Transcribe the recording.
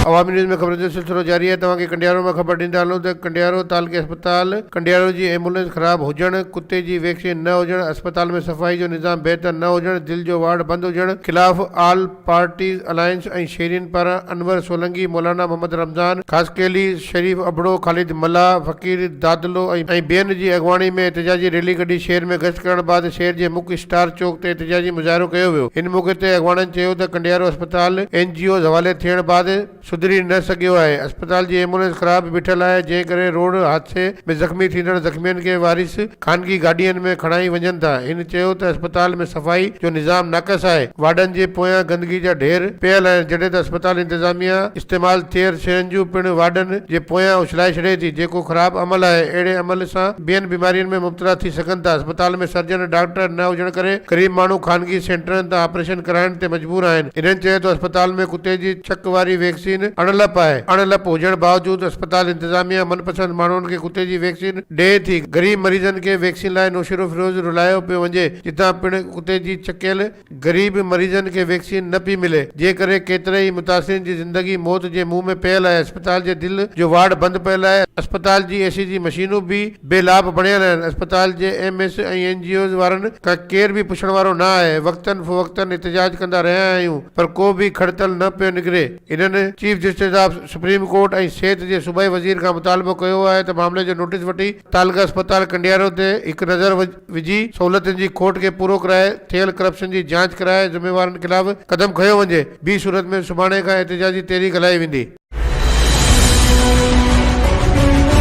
عوامي news ۾ خبرن جو سلسلو جاري آهي توهان کي ڪنڊيارو مان خبر ڏيندا هلون ته ڪنڊيارو تعلقي اسپتال ڪنڊيارو جي ايمبولينس خراب هجڻ ڪتي جي ويڪسين نه هجڻ اسپتال ۾ صفائي جو نظام بهتر نه هجڻ دل جو وارڊ بند هجڻ خلاف آل پارٽيز الائنس ۽ شيرين پاران انور سولنگي مولانا محمد رمضان خاصخيلي شريف ابڙو، خالد ملاح، فقير دادلو ۽ ٻين جي اڳواڻي ۾ احتجاجي ريلي ڪڍي شهر ۾ گشت ڪرڻ بعد شهر جي مک اسٽار چوڪ تي احتجاجي مظاهرو ڪيو ويو ان موقعي تي اڳواڻن چيو ته ڪنڊيارو اسپتال اين جي اوز حوالي ٿيڻ بعد سڌري نه سگهيو آهي اسپتال جي ايمبولينس خراب بيٺل آهي جنهن ڪري روڊ حادثي ۾ زخمي ٿيندڙ زخمين کي وارث خانگي گاڏين ۾ کڻائي وڃن ٿا هن چيو ته اسپتال ۾ صفائي جو نظام ناقص آهي وارڊن جي پويان گندگي جا ڍير پيل آهن جڏهن ته اسپتال انتظاميا استعمال ٿيل شين جون پڻ واڍن جي پويان اڇلائي ڇڏي ٿي جيڪو خراب عمل آهي اهڙي عمل سان ٻين بيمارين ۾ مبتلا ٿي سگهن ٿا اسپتال ۾ سرجن ڊاڪٽر نه هجڻ ڪري غريب ماڻهو خانگي سينٽرن تان آپريشن ڪرائڻ تي مجبور آهن انهن چيو ته اسپتال ۾ ڪتي جي ڇڪ واري ويڪسين اڻ لپ آهي اڻ لپ هجڻ باوجود اسپتال انتظاميا من پسند ماڻهن کي ڪتي جي ويڪسين ڏئي ٿي غريب مريضن کي ويڪسين لاء نوشهرو فيروز رلايو پيو وڃي جتان پڻ ڪتي جي ڇڪيل غريب مريضن کي ويڪسين نه پئي ملي، جنهن ڪري ڪيترائي متاثرين جي زندگي موت جي منهن ۾ پيل آهي، اسپتال جي دل جو وارڊ بند پيل آهي، اسپتال جي اي سي جي مشينون به بي لاڀ بڻيل آهن، اسپتال جي M S ۽ N G Os وارن کان ڪير به پڇڻ وارو نه آهي، وقتا فوقتا احتجاج ڪندا رهيا آهيون پر ڪو به کڙ تل نه پيو نڪري، انهن. Chief justice of supreme court ۽ صحت جي صوبائي وزير کان مطالبو ڪيو آهي ته معاملي جو نوٽيس وٺي. تعلقه اسپتال ڪنڊيارو تي هڪ نظر وجهي سهولتن جي کوٽ کي پورو ڪرائي ٿيل ڪرپشن جي جاچ ڪرائي ذميوارن خلاف قدم کنيو وڃي بي صورت ۾ سڀاڻي کان احتجاجي تحريڪ هلائي ويندي.